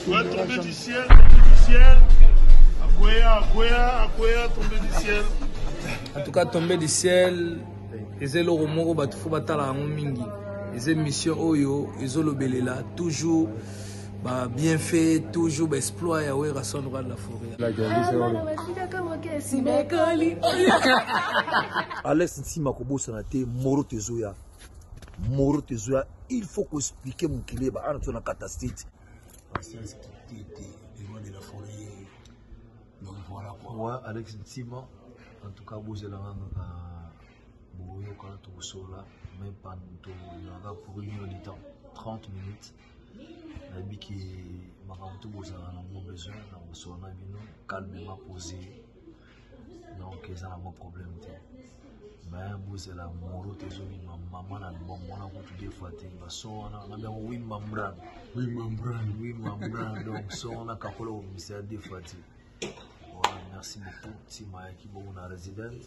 Ouais, tombé du ciel, tombé du ciel. Akwea, Akwea, Akwea, tombé du ciel. En tout cas, tombé du ciel. eza eloko moko bato fo batala yango mingi eza émission oyo ezolobelela toujours ba bienfait toujours ba exploit ya werrason roi de la forêt alex nsima kobosana te moro tezoya moro tezoya il faut ko expliquer mokili ba ana tozona kata state patience kitete le roi de la forêt donc voilà quoi ouais Alex Ntima en tout cas bozela nanu na boyoka tokosola mais panto yanga pour une heure de temps 30 minutes nayebi ke makambo tobozala nango besoin na kosola na bino calmement posé donc eza na mwa problème te me bozela moro te ezobima mama na libomona kutu de fois te baso wana nabi yango wi mambran wi mambran wi mambran donc so wana kakola kobimisa ya de fois te voilà merci beaucoup ntima yaki bongo na résidence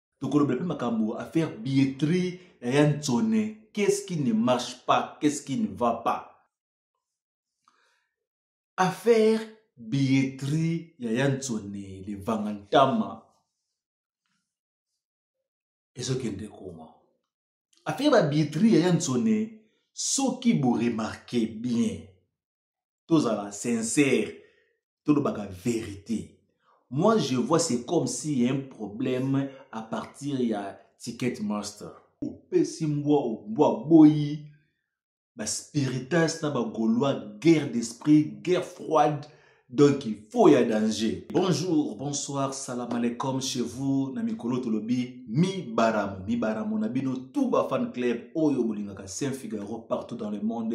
tokolobela mpe makambo affaire billetterie ya ya nsone qu'est-ce qui ne marche pas qu'est-ce qui ne va pas affaire billetterie ya ya nsone levanga ntama ezokende koma affaire babilletterie ya ya nsone soki boremarke bien tozala sincère tolobaka vérité moi je vois c'est comme si y a un problème à partir ya ticket master opesi mbwa mbwa aboyi baspiritas na bagaulois guerre d'esprit guerre froide donc il faut ya danger bonjour bonsoir salam aleikum chez vous na mikolo tolobi mibaramo mibaramo na bino tout bafan club oyo bolingaka saint figaro partout dans le monde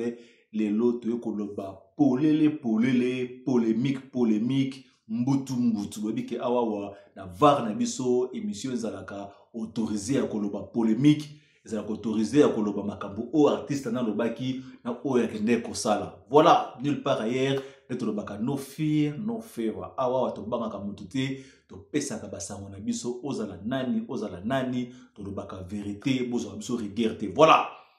lelo toye koloba polele polele polemique polemique mbutu mbutu boyebi ke awawa na var na biso émission ezalaka autorise ya koloba polemique ezalaka autorise ya koloba makambo oyo artiste nalobaki na oyo akendeki kosala voilà nulle part ailleurs nde tolobaka no fear no favor awawa tobangaka motu te topesaka basango na biso ozala nani ozala nani tolobaka verité bozwa biso rigueur te voilà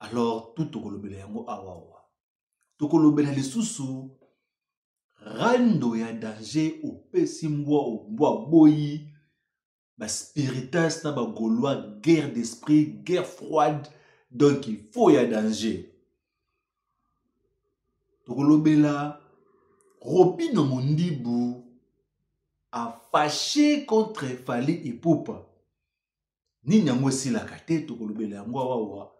alors tout tokolobela yango awawa tokolobela lisusu rando ya danger opesi mbwa mbwa boyi baspiritas na bagaulois guerre d'esprit guerre froide donc il faut ya danger tokolobela robino mondibu afashe contre fali ipupa nini yango esilaka te tokolobela yango awawa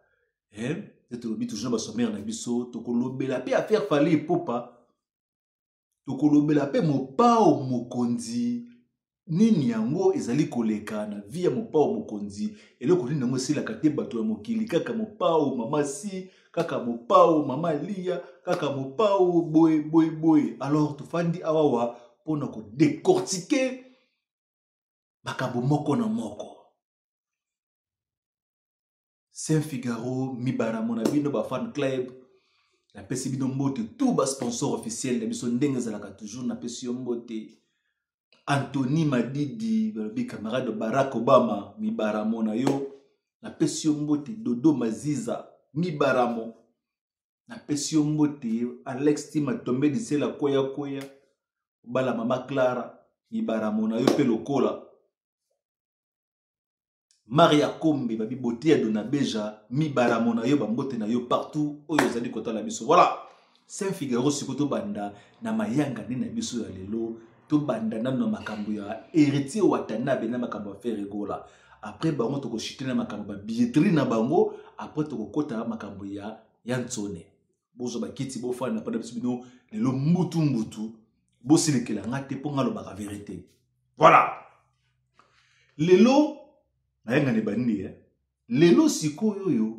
eh? te tolobi toujours basomere na biso tokolobela mpe affaire fale epopa tokolobela mpe mopao mokonzi nini yango ezali koleka na vi ya mopao mokonzi eloko nini yango esilaka te bato ya mokili kaka mopao mama si kaka mopao mama liya kaka mopao boye boye boye alors tofandi awawa mpo na kodecortike makambo moko na moko saint figaro mibaramo na bino bafan club napesi bino mbote tout basponsor officiel na biso ndenge ezalaka toujours napesi yo mbote antony madidi balobi camarade barack obama mibaramo na yo napesi yo mbote dodo maziza mibaramo napesi yo mbote alex tima tombe lisela kweya kweya obala mama clara mibaramo na yo mpe lokola maria kombe babiboti ya donabeja mibaramo na yo bambote na yo partout oyo ozali kotala biso voilà saint figaro sikoyo tobanda na mayangani na biso ya lelo tobanda nano na makambo ya héritier watanabe na makambo ya fere gola après bango tokoshite na makambo ya billetterie na bango après tokokota makambo ya ya nsone bozwa bakiti bofanda mpona biso bino lelo mbutu mbutu bosilikela nga te mpo nga alobaka verité voilà lelo nayangani banini eh? lelo sikoyo oyo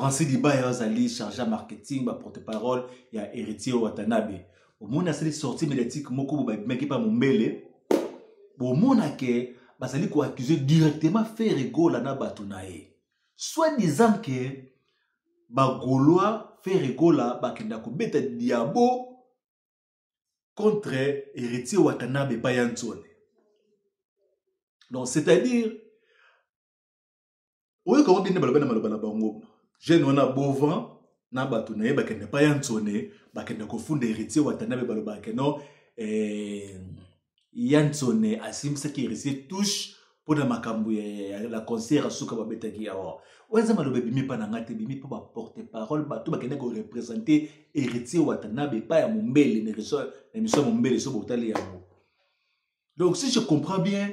francis libaya azali charge ya marketing baporte parole ya héritier watanabe omoni asali sortie médiatique moko bo babimaki mpa mombele bomona ke bazali koaccuse directement ferre gola na bato na ye soit disant ke bagolois ferre gola bakenda kobeta diabo contre héritier watanabe epai ya nzone donc c'est-à-dire oyoka ngo bine baloba na maloba na bango jeune wana bovan na bato na ye bakende pa ya nsone bakende kofunda héritier watanabe balobaka keno eh, ya nsone asimbisaki héritier touche mpo na makambo ya la concert ya suka babetaki yawa oyo eza maloba ebimi mpa na ngai te ebimi mpo baporte parole bato bakende korepresente héritier watanabe epai ya mombele na emission ya mombele so botali yango donc si je comprends bien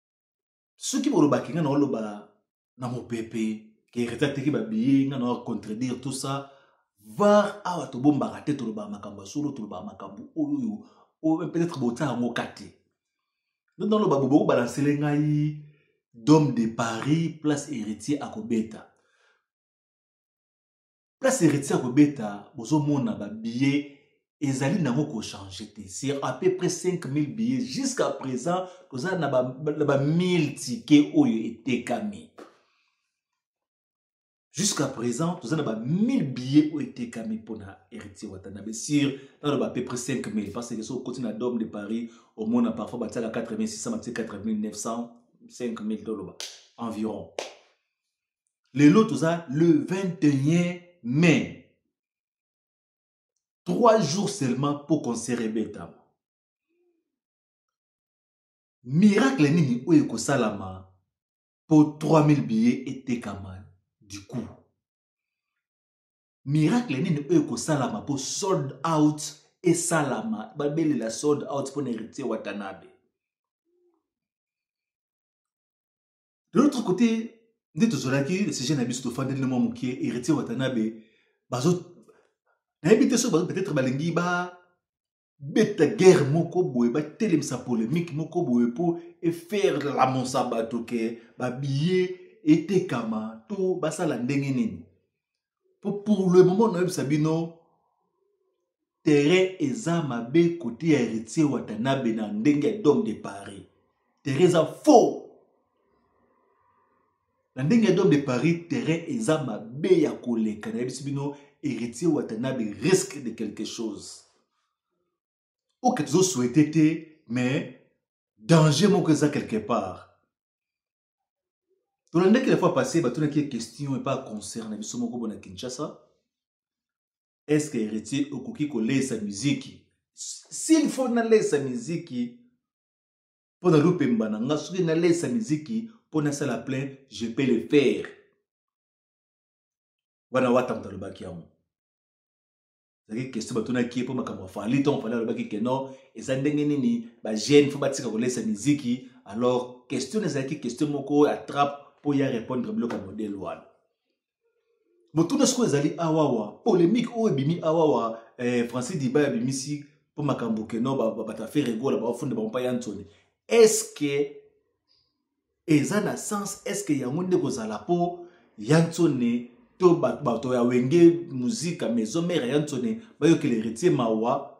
soki bolobaki nga naoloba na mopepe ke heritier ateki babiye nga na contredire tout ça var awa tobombaka te tolobaka makambo ya solo tolobaka makambo oyo oyo peut-être botya yango ka te nde naloba bobo kobalansele ngai dome de paris place héritier akobeta place heritier akobeta bozomona babillet ezali nango kochange te c'est à peu près 5000 billets jusqu'à présent toza na ba 1000 ticket oyo etekami jusqu'à présent toza na ba 1000 billets oyo etekami mpona héritier watanabe sur naloba à peu près 5000 parce que soki okoti na dome de paris omona parfois batiaka 4600 batie 4900 5000 toloba environ lelo toza le 21 mai trois jours seulement mpo concert ebetama miracle nini oyo ekosalama mpo 3000 billet etekama du coup miracle nini oyo ekosalama mpo sold out esalama babelela sold out mpo na héritier watanabe de l'autre côté nde tozalaki sujet na biso tofandeli na mwa moke héritier watanabe bazo nayebi te soki peut-être balingi ba beta guerre moko boye batelemisa polemique moko boye mpo efaire lamonsa bato ke babiye etekama to basala ndenge nini po pour le moment nayebisa bino terrain eza mabe kote ya héritier watanabe na ndenge ya dome de paris terrain eza faux na ndenge ya dome de paris terrain eza mabe ya koleka nayebisi bino héritier watanabe risque de quelque chose oke tozosouhaite te mais danger moko eza quelque part tolandaki la fois passé batunaki ye question epa concerne biso moko bona kinshasa est ce que héritier okoki kolesa miziki s'il faut nalesa miziki mpo na lupemba na nga soki nalesa miziki mpo nasala plein je peux le faire wana wata moto alobaki yango ezalaki question batunaki ye mpo makambo ya fali ntongo fali alobaki ke non eza ndenge nini bajeune fo batika kolesa miziki alors question ezalaki question moko oyo atrape mpo ya répondre biloko ya modele wana motuna sikoyo ezali awawa polémique oyo ebimi awawa eh, francis diba abimisi mpo makambo ke non bato ya ferre gola baofunda bango mpa ya nsoni est ce que eza na sens eske yango nde kozala mpo ya nsone to bato ya wenge muzika maison mare ya nsone bayokela heritier mawa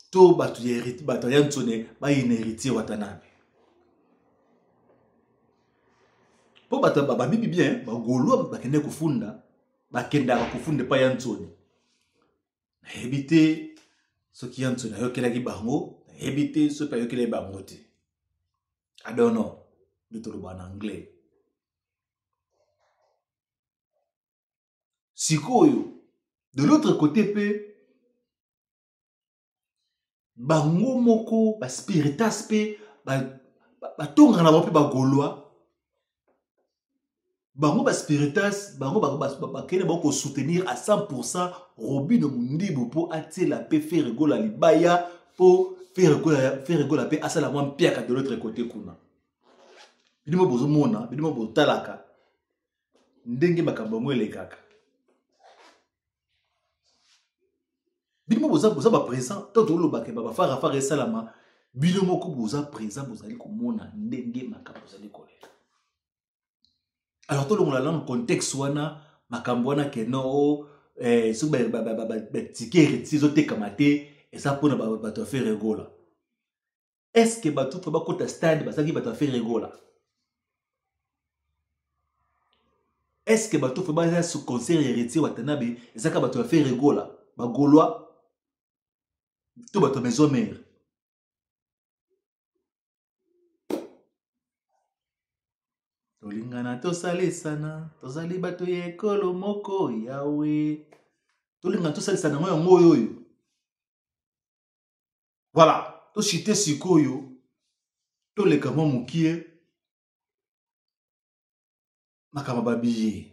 to bato ya bato ya nsone bayina heritier watanabe mpo bato babibi bien bagolwa bakende kofunda bakendaka kofunda epai ya nsone nayebi te soki ya nso nayokelaki bango nayebi te soki ayokelaki bango te adono nde toloba na anglais sikoyo de l'autre côté mpe bango moko baspiritas mpe batongaka na bango mpe bagolwa bango baspiritas bango bakende bango kosoutenir à 100 pourcent robino mondibu mpo atiela mpe feregola libaya mpo feregola mpe asala mwa mpiaka de l'autre côté kuna bidimo bozomona bidimo botalaka ndenge makambo yango elekaka bino boza boza ba présent to toloba ke baba fara fara esalama bino moko boza présent bozali komona ndenge makambo ozali kolela alors tolongola lano contexte wana makambo wana ke no oh, eh, soki batike retise ezotekama te eza mpona bato ya ferre egola est ce que bato to bakota stade bazalaki bato ya feregola est ce que bato to baza su concert ya heritier watanabe ezalaka bato ya feregola bagolois to bato ya maison mare tolingana tosalisana tozali bato ya ekolo moko yawe tolingana tosalisana yango yango oyo oyo Voilà, to cite sikoyo toleka mwa mokie makambo babiye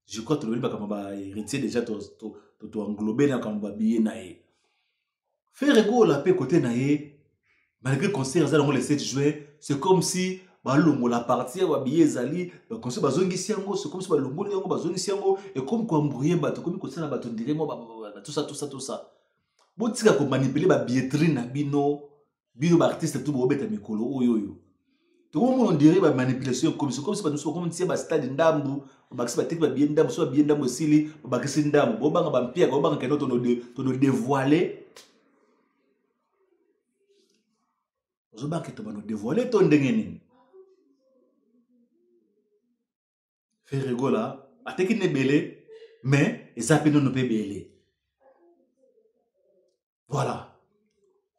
je crois tolobeli makambo ba héritier déjà toenglobe na makambo babiye na ye fere gola mpe kote na ye malgré concert eza nango le 7 juin c'est comme si balongola parti ya babiye ezali baconse bazongisi yango c'est comme si balongoli yango bazongisi yango ekomi koembrouye bato ekomi kosala bato ndire mwa batusa tusa tusa botika komanipule babilletterie na bino bino baartiste tu bobeta mikolo oyo oyo tokomona ondire bamanipulation ekomisi okomisi bato mosusu bakomi tie bastade ndambu babakisi bateki babiye ndambu so babiye ndambu esili babakisi ndambu bobanga bampiaka bobanga keno tono devoile ozobanga keto bano devoile to ndenge nini ferre gola ateki na ebele mais eza mpe nono mpe ebele voilà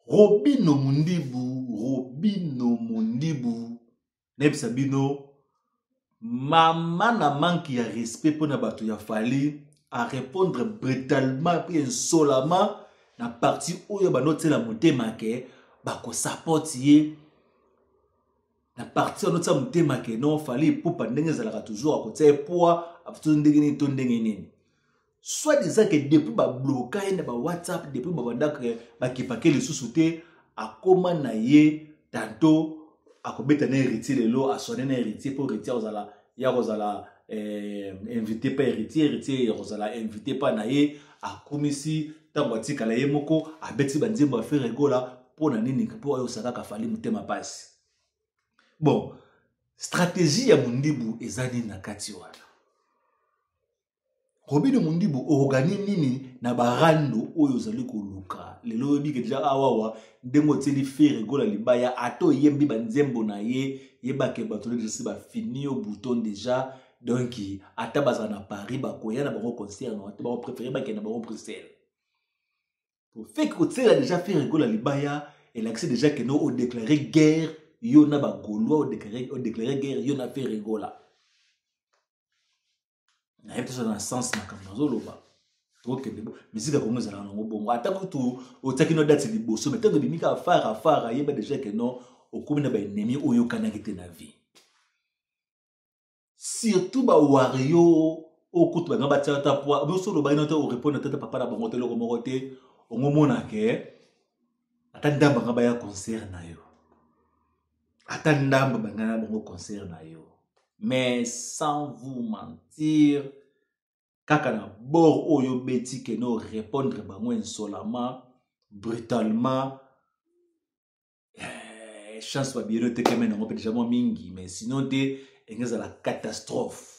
robino mundibu robino mundibu nayebisa bino mama na manki ya respect mpo na bato ya fali arépondre brutalement mpe insolama na parti oyo bandotyela motema ke bakosapoti ye na parti wana otia motema ke non fali epupa ndenge ezalaka toujours akotia epoa to ndenge nini to ndenge nini soit disant ke depuis babloka ye na bawhatsapp depuis babandaka bakipake lisusu te akoma na ye tanto akobeta na héritier lelo aswane na héritier mpo héritier akozala ya kozala eh, invité pa héritier héritier ya kozala invité pa na ye akumisi ntango atikala ye moko abeti banzembo ya fere egola mpo na nini mpo ayosa kaka fali motema mpasi bon stratégie ya mondibu eza nini na kati wana robino mundibu okoganye nini na barando oyo ozali koluka lelo oyebike deja awawa ndenge otieli fere gola libaya ata oyembi banzembo na ye yebake bato nedesi bafini yo bouton deja donk ata bazala na paris bakoya na bango concert na te bakoprefere bakenda bango bruxelles ofeki kotiela deja fere gola libaya elakisi deja kende odeklare guerre yo na bagaulois odeklare guerre yo na fere gola nayebi te soki na sens makambo nazoloba tokende bo miziki ya kongo ezalaka nango bongo ata kutu otiaki no date liboso mai ntango ebimi kaka fara fara yeba deja ke non okomi na baennemi oyokanaki te na vie surtout bawario oyo kutu banga batia ata poi biso olobaki no te orepondre tata papa na bango te eloko moko te ongomonake ata ndambo anga baya concert na yo ata ndambo banga na bango concert na yo mais sans vous mentir kaka na bord oyo obeti kende orépondre bango insolamment brutalement eh, chance babiyeli otekeme nango mpe deja mwa mingi mais sinon te enge ezala catastrophe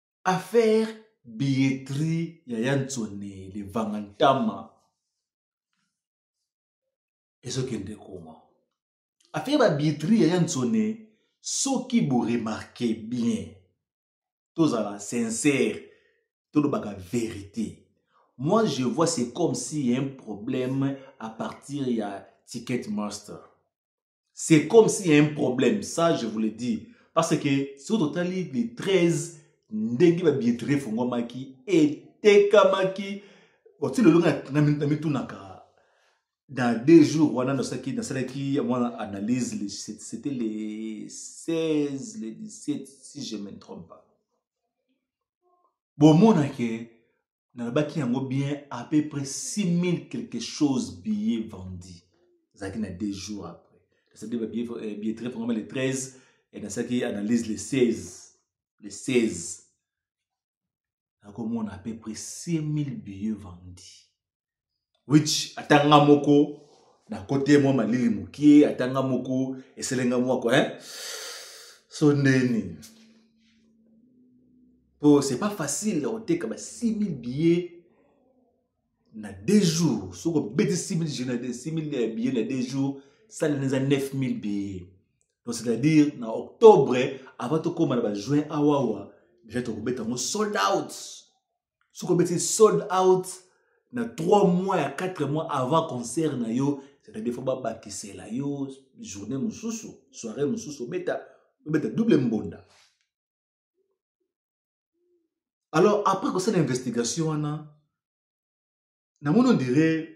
affaire billetterie ya yansone levanga ntama ezokende koma affaire babilletterie ya yansone soki boremarke bien tozala sincère tolobaka vérité moi je vois c'est comme si y a un problème à partir ya ticket master c'est comme s'il y a un problème ça je vous le dis parce que soki totali le 13 ndenge babilletterie efungwamaki etekamaki oti lelo na mitunaka dans deux jours wana nasalaki nasalaki mwana analyse c'était le 16 le 17 si je me trompe pas bomona ke nalobaki yango bien à peu près 6000 quelque chose billet vendu ezalaki na deux jours après nasalaki babilletterie euh, vraiment le 13 et nasalaki analyse le 16 le 16 nakomona à peu près 6000 billets vendus which ata nga moko na kote mwa malili mokie ata nga moko eselenga mwako eh? so ndeni po c'est pas facile ya koteka ba 6000 billets na deux jours soki obeti 6000 euh, billets na deux jours salina eza 9000 billets donc c'est-à-dire na octobre avant tokóma na bajuin awawa déjà tokobeta yango sold out soki obeti sold out na 3 mois ya 4 mois avant concert na yo c'est-à-dire fo babakisela yo journée mosusu soirée mosusu obeta obeta double mbonda alors après kosala investigation wana namoni ondire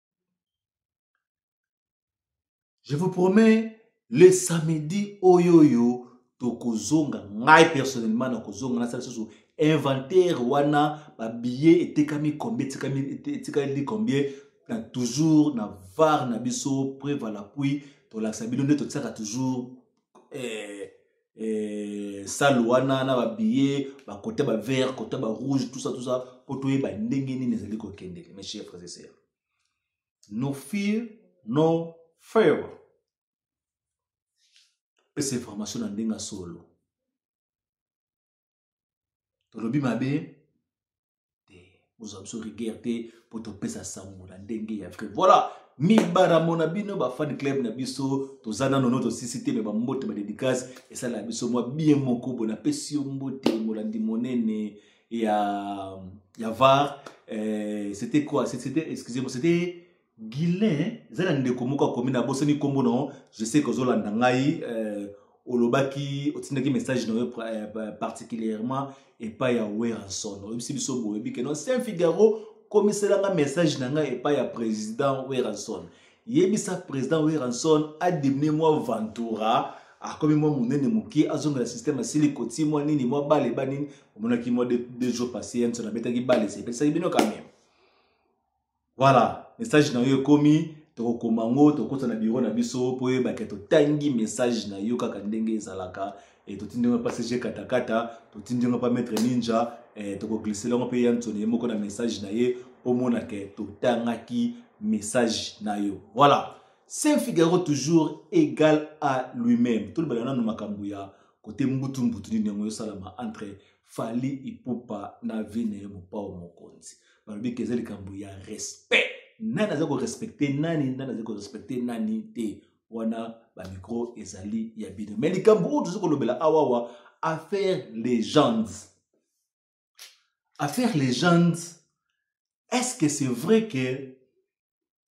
je vous promets le samedi oyo oyo tokozonga ngai personnellement nakozonga nasala lisusu inventaire wana babillet etekami combien etikali combien na toujours na var na biso prevalapuis tolakisa bino nde totiaka toujours eh, eh, salle wana na babillet bakote bavert kote barouge tout ça tout ça mpo toyeba ndenge nini ezali kokendeke mes chers frères et sœurs no fear no favor pesa information na ndenge ya solo tolobi mabe te ozwa biso rigueur te mpo topesa sango na ndenge ya vrai voilà mibaramo na bino bafani club na biso toza nano no tosisi te me bambote badedikase esalaka biso mwa bien moko boye napesi yo mbote molandi monene ya ya var euh, c'était quoi c'était excusez-moi c'était Guilain, eza na ndeko moko akomi na bosani nkombo na yo je sais que ozolanda ngai euh, olobaki otindaki message na yo euh, particulièrement epai ya weranson oyebisi biso boyebi ke non saint figaro komiselanga message na ngai epai ya président weranson yebisa président weranson adimine mwa ventura akomi mwa monene moke azongela systeme asili koti mwa nini mwa bale ba nini omonaki mwa deux jours passé yanso nabetaki bale sepesaki bino kameme voilà message na yo ekomi tokokoma yango tokota na biro na biso mpo oyebake totangi message na yo kaka ndenge ezalaka e, totindi yango mpa cg katakata totindi yango mpa maître ninja e, tokoglisela yango mpe yansoni ye moko na message na ye omona ke totangaki message na yo voilà saint figaro toujours égal à lui-même tolobela nano makambo ya kote mbutu mbutu nini yango ezosalama entre fally ipupa na vie na ye mopao mokonzi balobi ke eza likambo ya respect nani aza korespecte nani nani aza korespecte nani te wana bamikro ezali ya bino me likambo oyo toza kolobela awawa affaire legende affaire legende est ce que c'est vrai que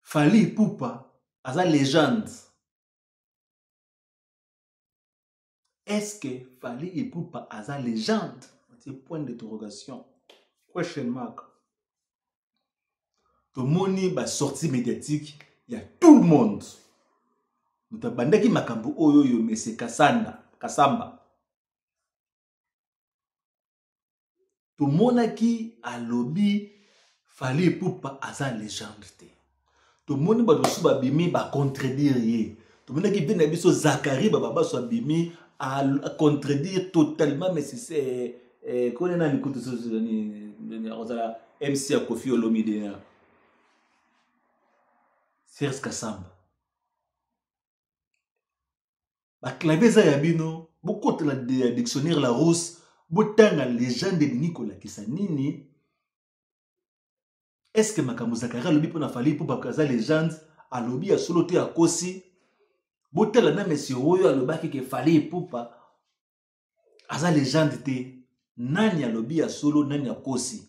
fally ipupa aza legende est ce que fali ipupa aza legende c'est point d'interrogation question mark tomoni basortie médiatique ya tout le monde moto abandaki makambo oyo oyo mese kasanda kasamba tomonaki alobi fali epupa aza legende te tomoni bato mosusu babimi bacontredire ye tomonaki vie na biso zakari bababaso abimi acontredire totalement mesise eh, eh, kone nani kutu akozala mc ya kofi olomide na serge kasamba baclave eza ya bino bokotela ya dictionnaire la rose botanga legende elingi kolakisa nini eske makambo zakari alobi mpo na fali mpo bato aza legende alobi ya solo te akosi botala na mesie oyo alobaki ke fali epupa aza legende te nani alobi ya solo nani akosi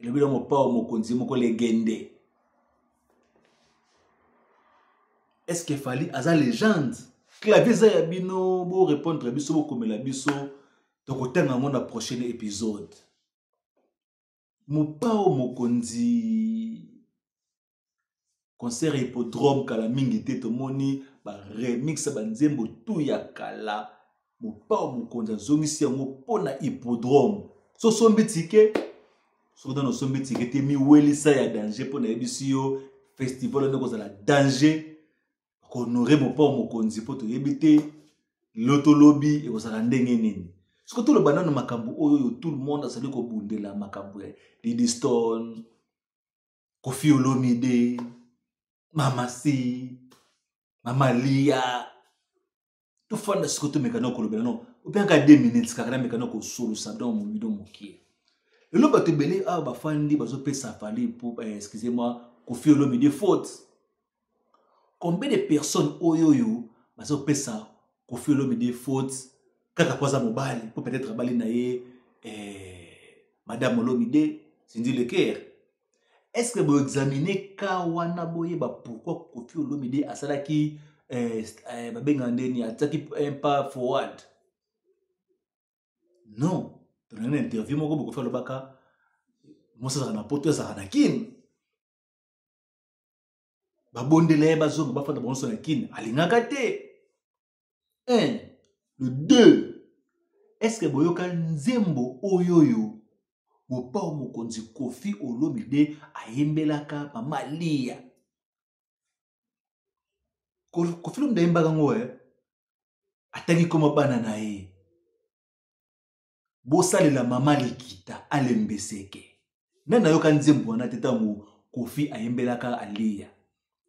elobi na mopao mokonzi moko legende est-ce que fali aza legende clavier eza ya bino borépondre biso bokomela biso tokotanga yango na prochaine épisode mopao mokonzi concert ya hippodrome kala mingi te tomoni baremix ya banzembo tu ya kala mopao mokonzi azongisi yango mpo na hippodrome so osombi tike soki nano osombi tike te miwelisa ya danger mpo nayebisi yo festival wana ekozala danger kohonore mopao mokonzi mpo toyebi te loto lobi ekozala ndenge nini soki toloba nano makambo oyo oyo tout le monde azali kobundela makambo ya didistone kofi olomide mama si mama lia tofanda siko tomeka na kolobela no opiaka de minutes kaka nameka na kosolosa don momido mokie lelo bato ebele awa bafandi bazopesa fali excusez-moi kofi olomide faute combien de personnes oyo oyo baza kopesa kofi olomide faute kaka mpo aza mobali mpo peut-être abali na ye eh, madame olomide sindi leker est ce que boexamine ka wana boyeba pourquoi kofi olomide asalaki eh, eh, babengaka ndeni atiaki un pas forward non tolandi na interview moko bokofi alobaka mosi azalaka na poto azalaka na kine babondela ye bazonga bafanda bango nyonso na kine alingaka te un le deux estce boyoka nzembo oyo oyo mopao mokonzi kofi olomide ayembelaka mama liya kofi olomide ayembaka yango e eh? ataki koma bana na ye bosalela mama likita alembeseke nani nayoka nzembo wana te ntango kofi ayembelaka aliya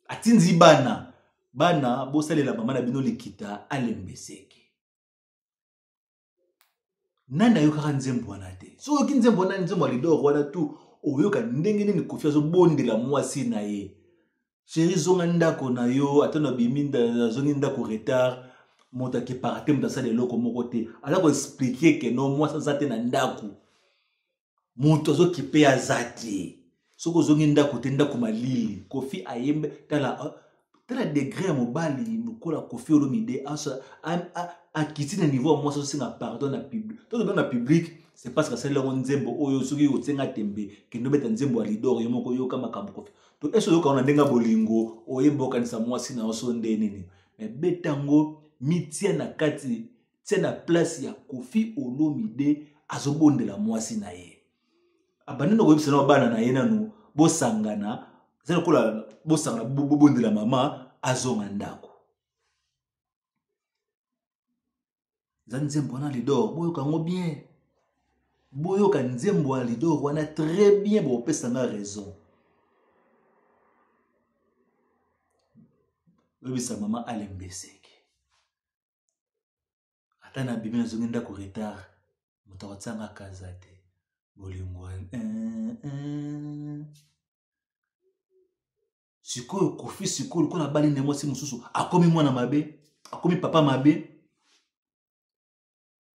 atindi bana bana bosalela mama na bino likita alembeseke nani ayokaka nzembo wana te so oyoki nzembo wana nzembo ya lidor wana tu oyoka ndenge nini kofi azobondela mwasi na ye sheri zonga ndako na yo ata na bimi nazongi ndako retard moto akepaka te moto asala eloko moko te aza koexplike ke no mwasi aza te na ndako moto azokipe ye aza te soki ozongi ndako te ndako malili kofi ayembe tala ah, tala degre ya mobali lokola kofi olomide akiti na niveau ya mwasi azosenga pardon na public to tobe na public c'est parce que asali yango nzembo oyo soki osenga tembe kende obeta nzembo ya lidor yo moko yoka makambo kofi to esi oyoka ngo na ndenge ya bolingo oyeba okanisa mwasi na yo so nde nini me beta yango mitia na kati tia na place ya kofi olomide azobondela mwasi na ye abandi na koyebisa na bana na ye nanu bosangana eza lokola bosangana bobondela mama azonga ndako eza nzembo wana lidor boyoka yango bien boyoka nzembo ya lidor wana très bien bopesa nga raison oyebisa mama alembeseke ata na bimi nazongi ndako retard moto akotianga kaza te bolingo eh, eh. sikoyo kofi sikoyo lokola abali nde mwasi mosusu akomi mwana mabe akomi papa mabe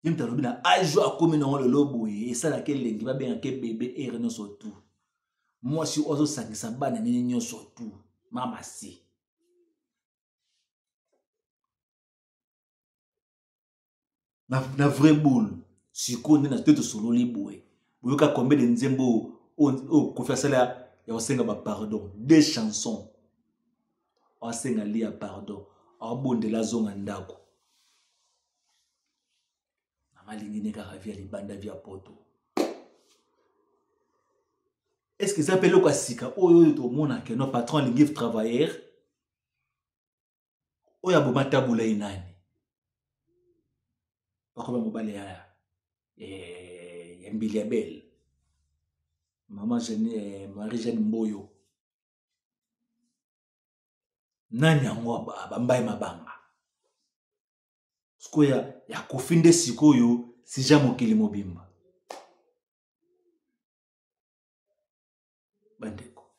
ye moto alobi na ajo akomi nango lelo boye esalaki elengi babengaka ebebe ere nyonso tu mwasi oyo azosangisa bana nini nyonso tu mama si na, na vrai boule sikoyo nde na te tosololi boye boyoka combien de nzembo oyo kofi asala ya kosenga bapardon de chanson asenga lia pardon abondela azonga ndako namalingi ne kaka via libanda via poto estce eza mpe eloko ya sika oyo oyo tomonaka no patron alingi travailleur oyo aboma tabula ye nani bakoba mobali ya eh, ya mbili ya bele mama eh, marie jeanne mboyo nani yango abambai mabanga sikoyo ya, ya kofi nde sikoyo sija mokili mobimba bandeko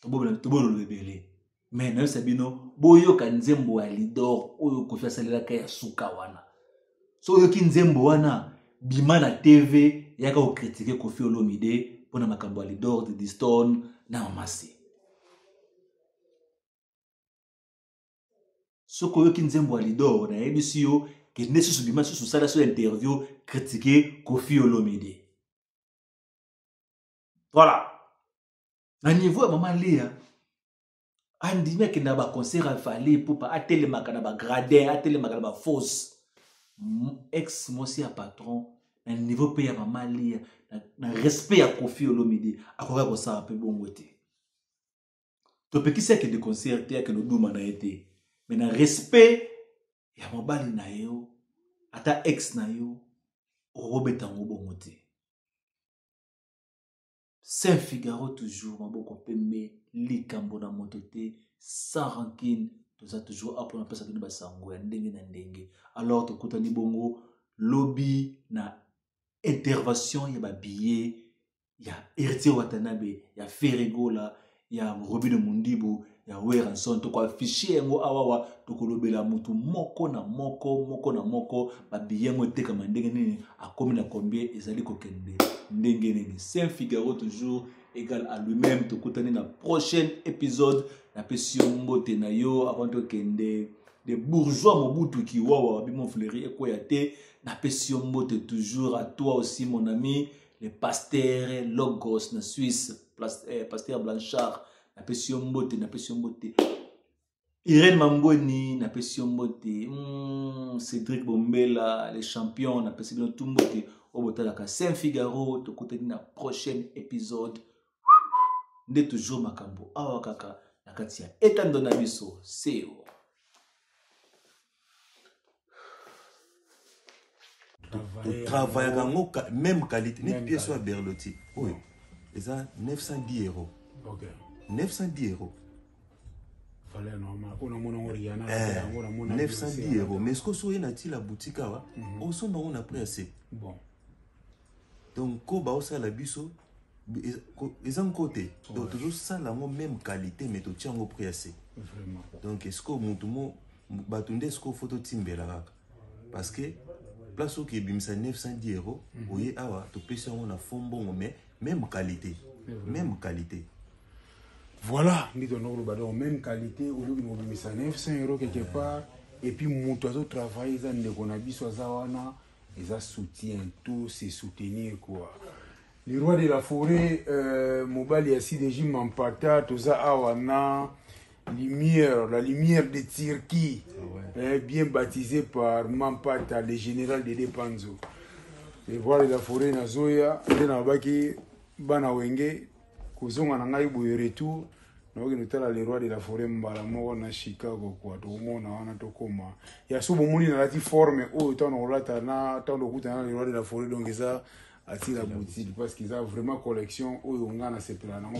tobolola ebele me nayebisa bino boyoka nzembo ya lidor oyo kofi asalelaka ya suka wana so oyoki nzembo wana bima na tv yaka kokritike kofi olomide mpo na makambo ya lidor didiston na mamasi soki oyoki nzembo ya lidor nayebisi yo kende susu bima susu sala so interview kritike kofi olomide voilà na niveau ya mama lea andimi akenda na baconcert ya vale pupa atelemaka na bagradin atelemaka na bafausse ex mwasi ya patron na niveau mpe ya mama lea na, na respect ya kofi olomide akoka kosala mpe bongo te topekisi akende concert te akende oduma na ye te me na respect ya mobali na yo ata ex na yo okobeta yango bongo te Saint Figaro toujours maboko pembe likambo na moto te sans rancune toza toujours apo na pesa bino basango ya ndenge na ndenge alors tokutani bongo lobi na intervention ya babillet ya Heritier Watanabe ya Ferregola ya robino mundibu ya weranson tokoafishe yango awawa tokolobela motu moko na moko moko na moko babiye yango etekama ndenge nini akomi na combien ezali kokende ndenge nini saint figaro toujours égal à lui-même tokutani na prochaine épisode napesi yo mbote na yo avant tokende de bourgeois mobutu kiwawa bimo fleri ekweya te napesi yo mbote toujours à toi aussi mon ami le pasteur logos na suisse eh, pasteur blanchard napesi yo mbote napesi yo mbote irene mambweni napesi yo mbote mm, cédric bombela les champions napesi bino tu mbote oyo botalaka saint figaro tokutani na prochaine épisode nde toujours makambo awa kaka na kati ya etando na biso seo travaillaka yango même qualité neti pièce oyo ya berloti oyo eza 910 euros 910 euros 910 euros mais soki osoki oye na tila boutique awa mhm. osomba yango na prix ya se donc ko baosala biso eza nko te donc tozosala yango même qualité mais totya yango prix ya se donc esikoyo motu mo bato nde sikoyo fo totimbela kaka parce que place oyo ebimisa 910 euros mhm. oye awa topesi yango na fo mbongo mais même qualité même qualité voilà nde tolanda koloba donc même qualité ozoki kobimisa 900 euros quelque part et puis moto azotravaille eza ndeko na biso aza wana eza soutien to se soutenir quoi le roi de la forêt euh, mobali ya cdg mampata toza awa na Lumière, la lumière de Turquie, ah ouais. eh, bien baptisé par Mampata, le général de Depanzo. Et voilà la forêt na Zoya, et na baki bana wenge, kozonga na ngai boye retour, na baki notala le roi de la forêt mbala moko na Chicago quoi, to mona wana to koma. Ya so bomoni na lati forme oyo oh, tano olata na tano okuta na le roi de la forêt donc eza atila boutique parce que eza vraiment collection oyo nga na sepela nango